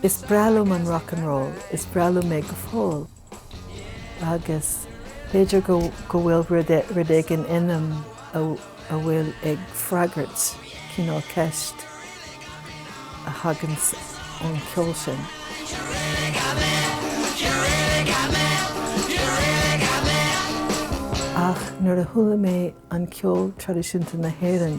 Is breá liom an rock and roll, is breá liom é go fóill. agus b'fhéidir go bhfuil rud éigin ionam atá ag freagairt cineál ceist a thagann ón gceol sin. Ach nuair a chuala mé an ceol traidisiúnta na hÉireann,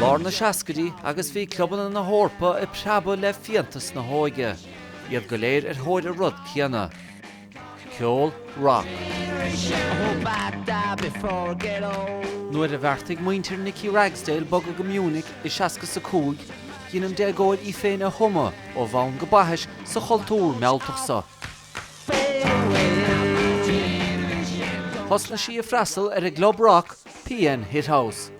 Lár na seascaidí agus bhí clubanna na hEorpa ag preabadh le fiántas na hóige, iad go léir ar thóir an rud céanna, ceol rock. Nuair a bheartaigh muintir Nikki Ragsdale bogadh go Munich i 65, dhein an déagóir í féin a thumadh ó bhonn go baithis sa chultúr mealltach so. Thosnaigh sí ag freastal ar an gclub rock PN Hit House.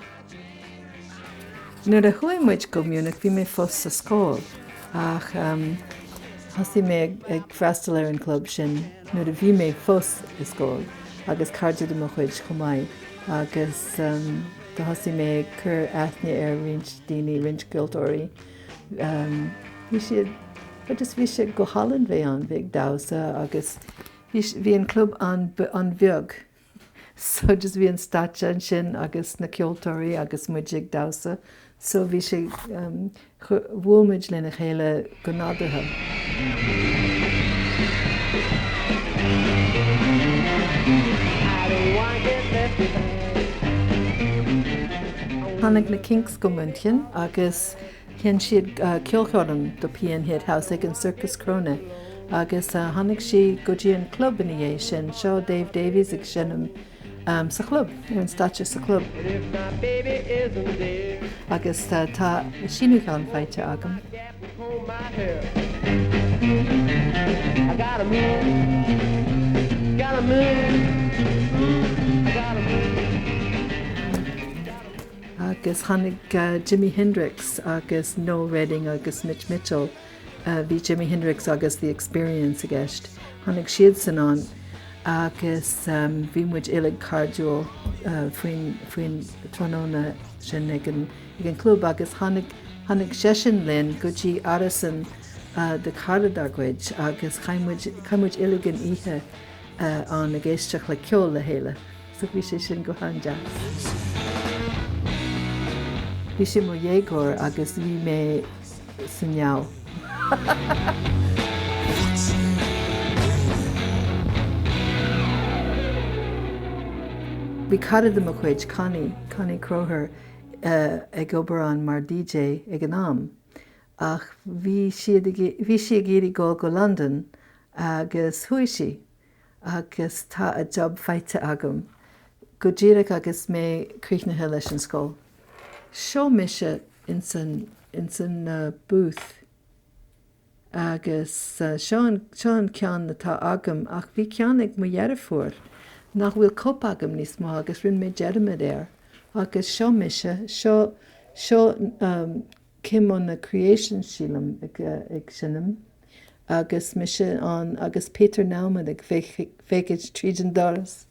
Nuair a chuaigh muid go Munich, bhí mé fós sa scoil, ach thosaigh mé ag freastal ar an gclub sin nuair a bhí mé fós i scoil, agus cairde de mo chuid chomh maith, agus thosaigh mé ag cur aithne ar roinnt daoine, roinnt ceoltóirí. Bhí siad, just bhí sé go hálainn bheith ann, bheith ag damhsa agus bhí an club an-bheag. Agus bhí an stáitse ansin agus na ceoltóirí agus muid ag damhsa so bhí sé, bhuail muid lena chéile go nádúrtha. Tháinig na Kinks go München agus. Sheinn siad ceolchoirm do PN Hit House ag an Circus Krone agus tháinig siad go dtí an club ina dhiaidh sin. Seo Dave Davies ag seinm sa chlub, ar an stáitse sa chlub. Agus tá síniúchán faighte agam. Agus tháinig Jimi Hendrix agus Noel Redding agus Mitch Mitchell, bhí Jimi Hendrix agus The Experience i gceist, tháinig siadsan ann agus bhí muid uilig cairdiúil faoin tráthnóna sin ag an gclub agus tháinig seisean linn go dtí árasán de chara dár gcuid agus chaith muid uilig an oíche ann ag éisteacht le ceol le chéile. Bhí sé sin go han-deas. Bhí mé i mo dhéagóir agus bhí mé sa ngeall. Bhí cara de mo chuid, Connie, Connie Croher, ag obair ann mar DJ ag an am ach bhí siad ag, bhí sí ag iarraidh dul go Londain agus chuaigh sí. agus tá a job faighte agam go díreach agus mé críochnaithe leis an scoil. Seo mise ins an, ins an booth agus seo an, seo an ceann atá agam ach bhí ceann ag mo dheirfiúr nach bhfuil cóip agam níos mó agus rinne mé dearmad air agus seo mise, seo, seo. Came on the Creation sílim, ag seinm agus mise ann agus Peter Nauman ag féachaint tríd an doras.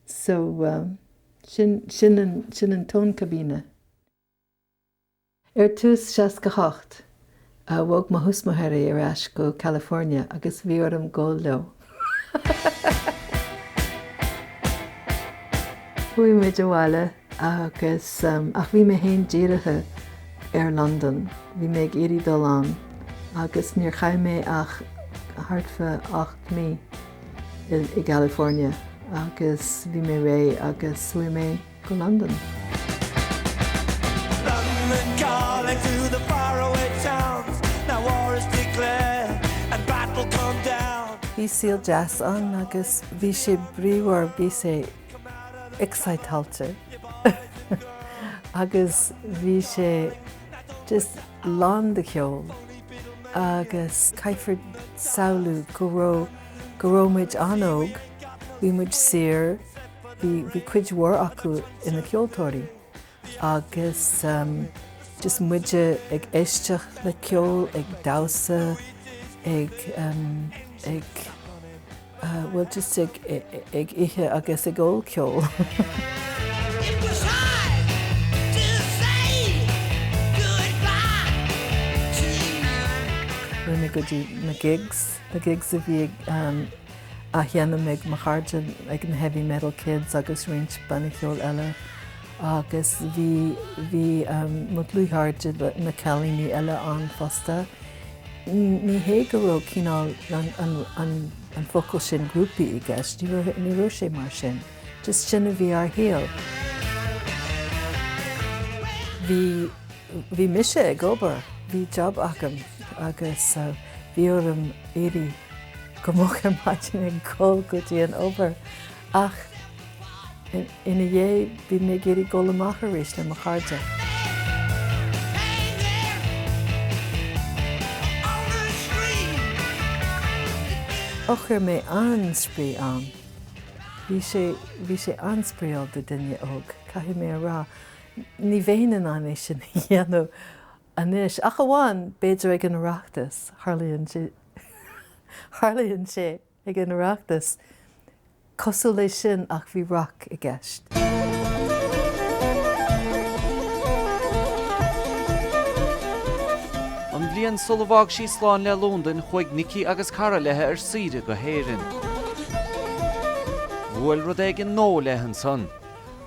So, sin an Tonn Cabine. Ar dtús seasca hocht, Bhog mo thuismitheoirí ar ais go California agus bhí orm gol leo. Chuaigh muid abhaile agus, ach bhí mé féin dírithe ar Londain, bhí mé ag iarraidh dul ann agus níor chaith mé ach thart fá ocht mí i gCalifornia agus bhí mé réidh agus chuaigh mé go Londain. Bhí saol deas ann agus bhí sé bríomhar, bhí sé exciteáilte agus bhí sé just lán de cheol agus caithfear samhlú go raibh, go raibh muid an-óg, bhí muid saor, Bhí cuid mhór acu ina ceoltóirí agus just muide ag éisteacht le ceol, ag damhsa, ag ag bhuel just ag ag ithe agus ag ól ceol. Rinne mé go dtí na gigs, na gigs a bhí ag á dhéanamh ag mo chairde, ag na Heavy Metal Kids agus roinnt bannaí ceoil eile agus bhí, bhí mo dhlúthchairde, na cailíní eile ann fosta. Ní hé go raibh cineál an focal sin grúpaí i gceist, ní raibh, ní raibh sé mar sin, just sin a bhí ár saol. Bhí, bhí mise ag obair, bhí job agam agus bhí orm éirí. go moch ar maidin ag dul go dtí an obair ach ina dhiaidh bhí mé ag iarraidh dul amach arís le mo chairde. Och fuair mé an-spraoi ann. Bhí sé bhí sé an-spraíúil do duine óg, caithfidh mé a rá. Ní bheinn in ann é sin a dhéanamh Anois, ach amháin, b'fhéidir, ag an Oireachtas, tharlaíonn sé, tharlaíonn sé ag an Oireachtas, cosúil le sin, ach bhí rac i gceist. An bhliain sular fhág sí slán le Londain, chuaigh Nicky agus cara leithe ar saoire go hÉireann. Bhuail rud éigin nó léi ansan.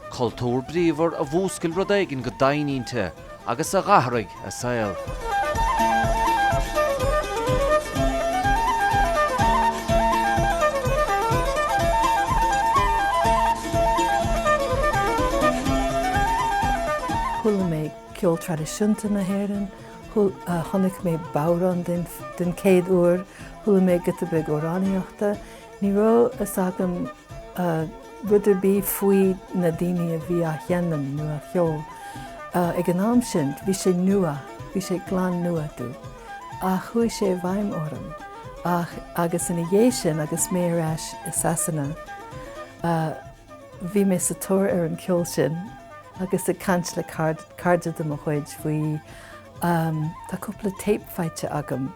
Cultúr bríomhar a mhúscail rud éigin go doimhin inti agus a dh'athraigh a saol. Chuala mé ceol traidisiúnta na hÉireann, chonaic mé bodhrán den chéad uair, chuala mé giota beag amhránaíochta, Ní raibh fhios agam rud ar bith faoi na daoine a bhí á sheinm nó á cheol ag an am sin. Bhí sé nua, bhí sé glan nua domh ach chuaigh sé i bhfeidhm orm ah agus ina dhiaidh sin agus mé ar ais i Sasana bhí mé sa tóir ar an cheol sin agus ag caint le cairde de mo chuid faoi. Tá cúpla téip faighte agam.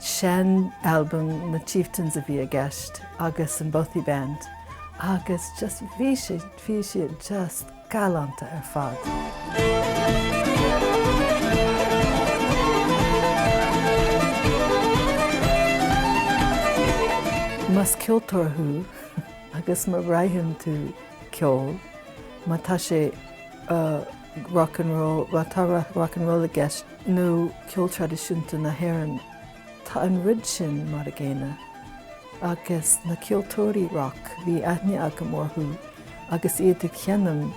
Sean albam na Chieftains a bhí i gceist agus an Bothy Band agus just bhí sé, bhí siad just galánta ar fad. Más ceoltóir thú agus má mhothaíonn tú ceol, má tá sé rock and roll, má tá rock and roll i gceist, nó ceol traidisiúnta na hÉireann, tá an rud sin mar a gcéanna agus na ceoltóirí roc, bhí aithne agam orthu agus iad ag seinm,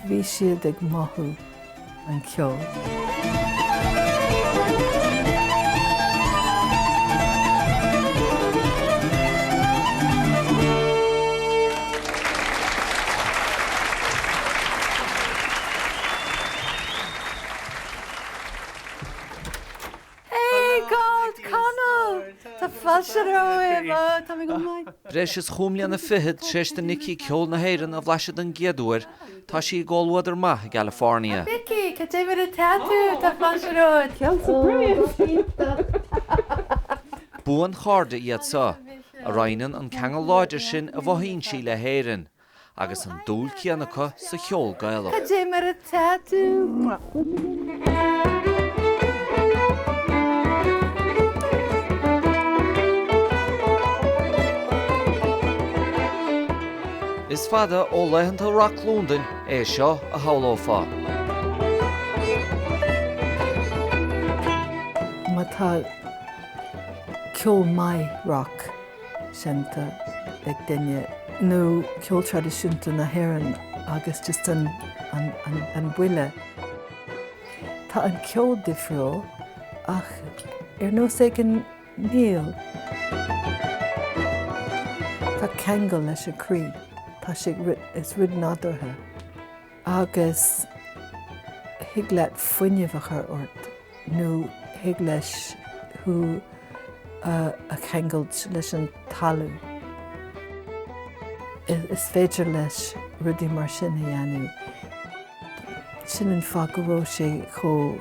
bhí siad ag mothú an cheoil. Eoghan Connell! Tá fáilte romhaibh! Tá mé go maith. Breis is chúig mbliana fichead tar éis do Nikki ceol na hÉireann a bhlaiseadh den gcéad uair, tá sí i gcomhluadar maith i gCalifornia. Nikki, cad é mar atá tú? Tá fáilte romhat. Ceol sa bhFrainc! Buanchairde iad seo, a roinneann an ceangal láidir sin a mhothaíonn sí le hÉirinn, agus an dúil chéanna acu sa cheol Gaelach. Cad é mar atá tú? Is fada ó laethanta rac Londain é seo, a shamhlófá. Má tá ceol maith rac. seinnte ag duine, nó ceol traidisiúnta na hÉireann agus just an, an, an, an buille. Tá an ceol difriúil ach ar nós ag an ríl. Tá ceangal leis an chroí, Tá sé is rud nádúrtha. agus thig leis fuinneamh a chur ort nó thig leis thú a cheangailt leis an talamh. Is féidir leis rudaí mar sin a dhéanamh. Sin an fáth go raibh sé chomh.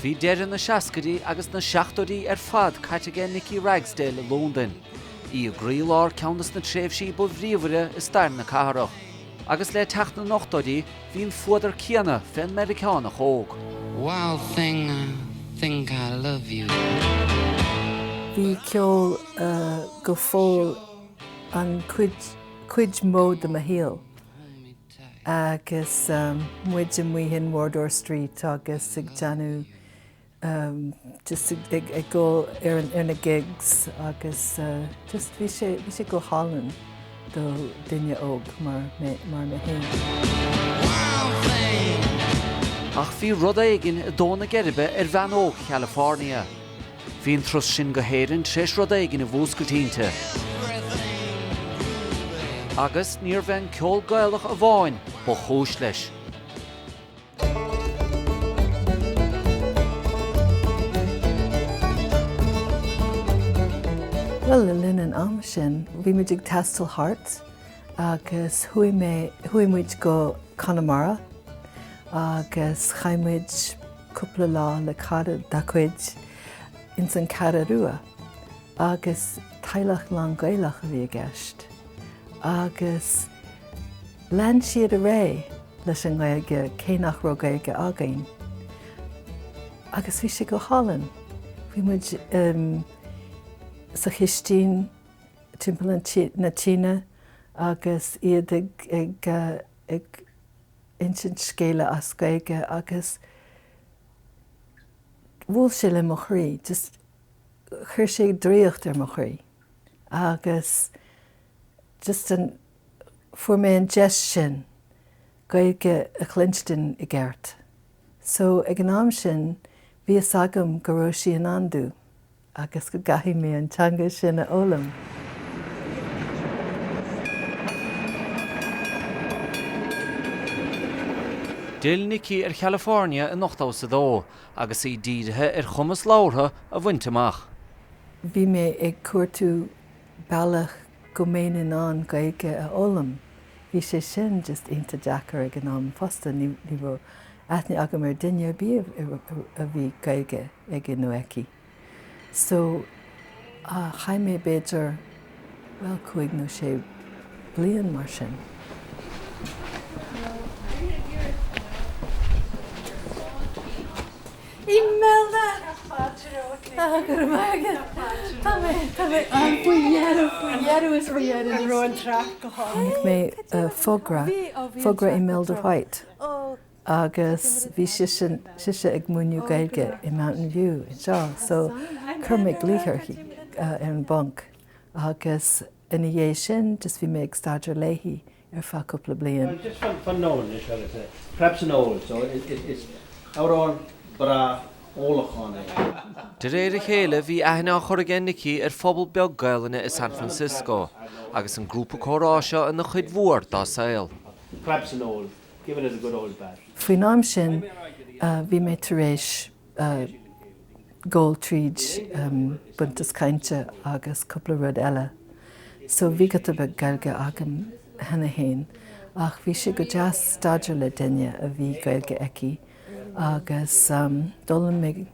Bhí deireadh na seascaidí agus na seachtóidí ar fad caite ag Nikki Ragsdale i Londain, í i gcroílár ceann des na tréimhsí ba bhríomhaire i stair na cathrach, agus le teacht na n-ochtóidí, Bhí an fuadar céanna fén Meiriceánach óg. Wild thing, I think I love you. Bhí ceol go fóill an cuid mó de mo shaol agus muid amuigh in Wardour Street agus ag déanamh just ag dul ar na gigs agus just bhí sé, bhí sé go hálainn do duine óg mar mé, mar mé fhéin. Ach bhí rud éigin ag dó na geirbe ar bhean óg Chalifornia. Bhí an turas sin go hÉirinn tréis rud éigin a mhúscailt inti. Agus níorbh é an ceol Gaelach amháin ba chúis leis. Bhuel, le linn an ama sin, bhí muid ag taisteal thart agus chuaigh mé, chuaigh muid go Conamara agus chaith muid cúpla lá le cara dá cuid ins an Cheathrú Rua. agus teaghlach lán-Gaelach a bhí i gceist agus lean siad ar aghaidh leis an nGaeilge cé nach raibh Gaeilge againn agus bhí sé go hálainn. Bhí muid sa chistín timpeall an tí, na tine agus iad ag ag ag insint scéala as Gaeilge agus bhuail sé le mo chroí just chuir sé draíocht ar mo chroí agus just an, fuair mé an deis sin Gaeilge a chluinstin i gceart. So ag an am sin bhí fhios agam go raibh sí i ndán domh agus go gcaithfidh mé an teanga sin a fhoghlaim. D'fhill Nikki ar Chalifornia in 82. agus í dírithe ar chumas labhartha a bhaint amach. Bhí mé ag cuartú bealach go mbeinn in ann Gaeilge a fhoghlaim. Bhí sé sin just iontach deacair ag an am fosta, ní raibh aithne agam ar duine ar bith a bhí Gaeilge aige nó aici. So, chaith mé b'fhéidir, bhuel, cúig nó sé bliain mar sin. Imelda! Chonaic mé fógra, fógra Imelda White, agus bhí sise, sise ag múineadh Gaeilge i Mountain View anseo so chuir mé glaoch uirthi ar an bpointe agus ina dhiaidh sin just bhí mé ag staidéar léi ar feadh cúpla bliain. De réir a chéile bhí aithne á chur ag Nikki ar phobal beag Gaelainne i San Francisco agus an grúpa comhrá seo ina chuid mhór dá saol. given as a good old fashioned. Faoin am sin, bhí mé tar éis dul tríd Buntús Cainte agus cúpla rud eile, so bhí giota beag Gaeilge agam cheana féin. Ach bhí sé go deas staidéar le duine a bhí Gaeilge aici agus d'fhoghlaim mé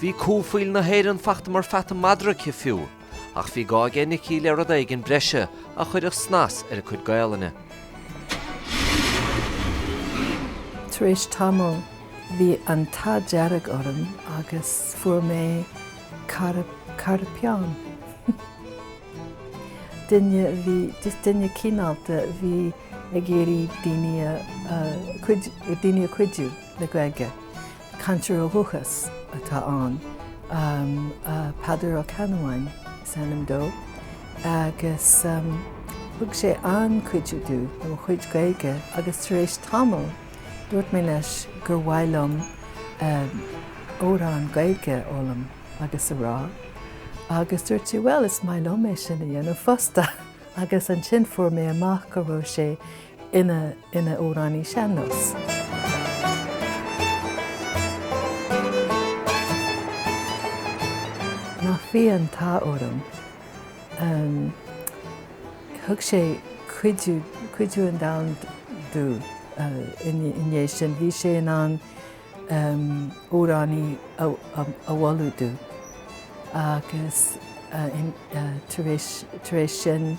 Bhí cú faoil na hÉireann fachta mar pheata madra aici fiú, ach bhí gá aige Nicky le rud éigin breise a chuirfeadh snas ar a cuid Gaolainne. Tar éis tamaill, bhí an t-ádh dearg orm agus fuair mé cara, cara peann. Duine a bhí, just duine cineálta a bhí ag iarraidh daoine a, a, cuid, daoine a chuidiú le Gaeilge. Cainteoir ó dhúchas atá ann, Peadar Ó Ceannabháin is ainm dó, agus thug sé an-chuidiú do mo chuid Gaeilge agus tar éis tamaill dúirt mé leis gur mhaith liom amhrán Gaeilge a fhoghlaim agus a rá agus dúirt sé bhuel is maith liom é sin a dhéanamh fosta agus ansin fuair mé amach go raibh sé ina amhránaí sean-nós. Nach bhí an t-ádh orm. Thug sé cuidiú, cuidiú an domhain domh i ndiaidh sin. Bhí sé in ann amhránaí a mholadh domh agus tar éis sin,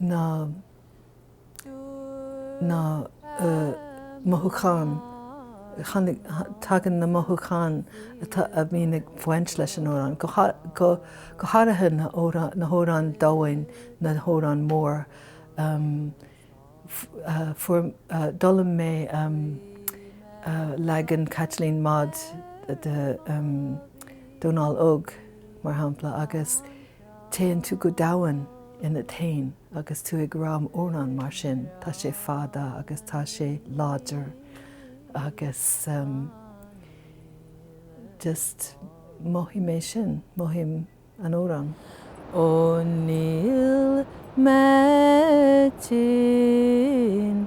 na na mothúcháin tháinig tagann na mothúcháin atá a bhíonn ag baint leis an amhrán go go go háirithe na na hamhráin domhain na hamhráin mór fuair d'fhoghlaim mé leagan Chaitlín Maude de Dónal Óg mar shampla agus Téann tú go domhain ionat fhéin agus tú ag rá amhrán mar sin, tá sé fada agus tá sé láidir agus em just mothaím é sin, mothaím an amhrán. Ó níl mé tinn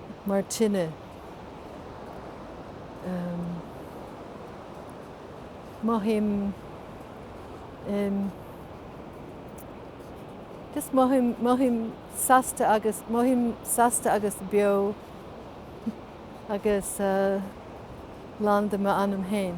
mar tine. Mothaím em. just mothaím mothaím sásta agus mothaím sásta agus beo agus lán de m'anam féin.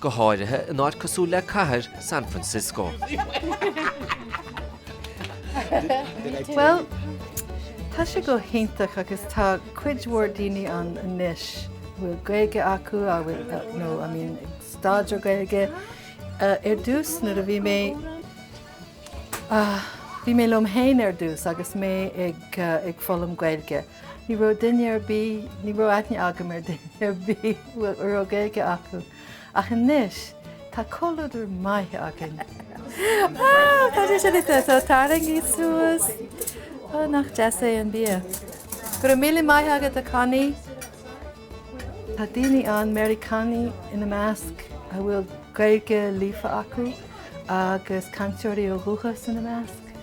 go háirithe in áit cosúil le cathair San Francisco. Bhuel, tá sé go hiontach agus tá cuid mhór daoine ann anois a bhfuil Gaeilge acu a bhfuil, nó a mbíonn ag staidéar Gaeilge. Ar dtús nuair a bhí mé, bhí mé liom féin ar dtús agus mé ag foghlaim Gaeilge, Ní raibh duine ar bith, ní raibh aithne agam ar duine ar bith a raibh Gaeilge acu, ach anois tá comhluadar maith againn. Cad é sin atá ann? Tarraingígí suas? Ó nach deas é an bia. Go raibh míle maith agat a Connie. Tá daoine ann, Meiriceánaigh ina measc, a bhfuil Gaeilge líofa acu agus cainteoirí ó dhúchas ina measc,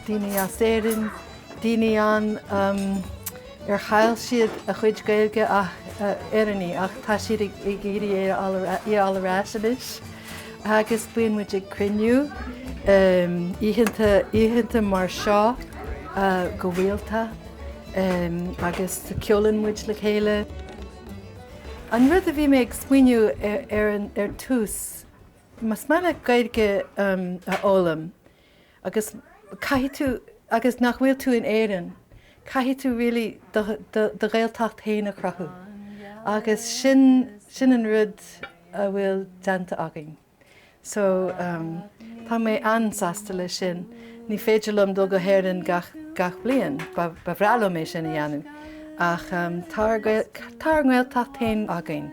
daoine as Éirinn, daoine ann ar chaill siad a gcuid Gaeilge Éireannaigh ach tá siad ag iarraidh í a fháil ar ais anois agus bíonn muid ag cruinniú oícheanta mar seo go rialta agus ceolann muid le chéile. An rud a bhí mé ag smaoineamh air ar tús, más mian leat Gaeilge a fhoghlaim, Agus caithfidh tú, agus nach bhfuil tú in Éirinn, caithfidh tú really do, do, do Ghaeltacht fhéin a chruthú agus sin, sin an rud a bhfuil déanta againn. So ehm tá mé an-sásta leis sin. Ní féidir liom dul go hÉirinn gach, gach bliain, ba, ba bhreá liom é sin a dhéanamh ach ehm tá ár, tá ár nGaeltacht fhéin againn.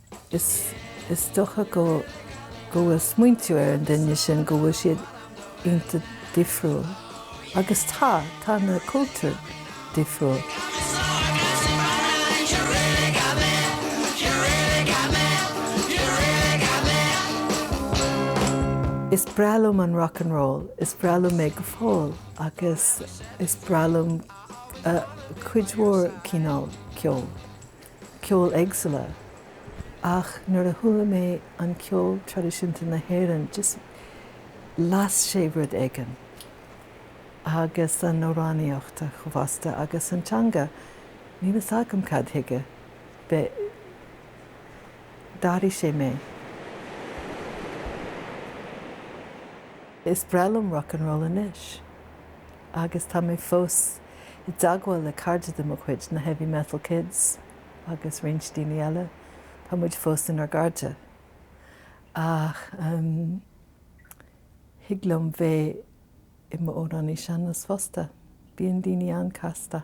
Is dócha go bhfuil smaointiú ar an duine sin go bhfuil siad iontach difriúil. Agus tá, tá na cultúir difriúil. Is breá liom an rock and roll, is breá liom é go fóill agus is breá liom cuid mhór cineál ceoil. ceoil éagsúla, ach nuair a chuala mé an ceol traidisiúnta na hÉireann just las sé rud éigin, agus an amhránaíocht fosta agus an teanga, níl fhios agam cad chuige, but, d'athraigh sé mé. Is breá liom rock and roll anois. agus tá mé fós i dteagmháil le cairde de mo chuid, na Heavy Metal Kids agus roinnt daoine eile, tá muid fós inár gcairde. Ach thig liom bheith i m'amhránaí sean-nós fosta. Bíonn daoine an-casta.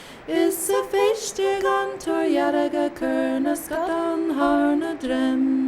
Is sa phéiste gan túir dhearga cur na scadán thar na droim.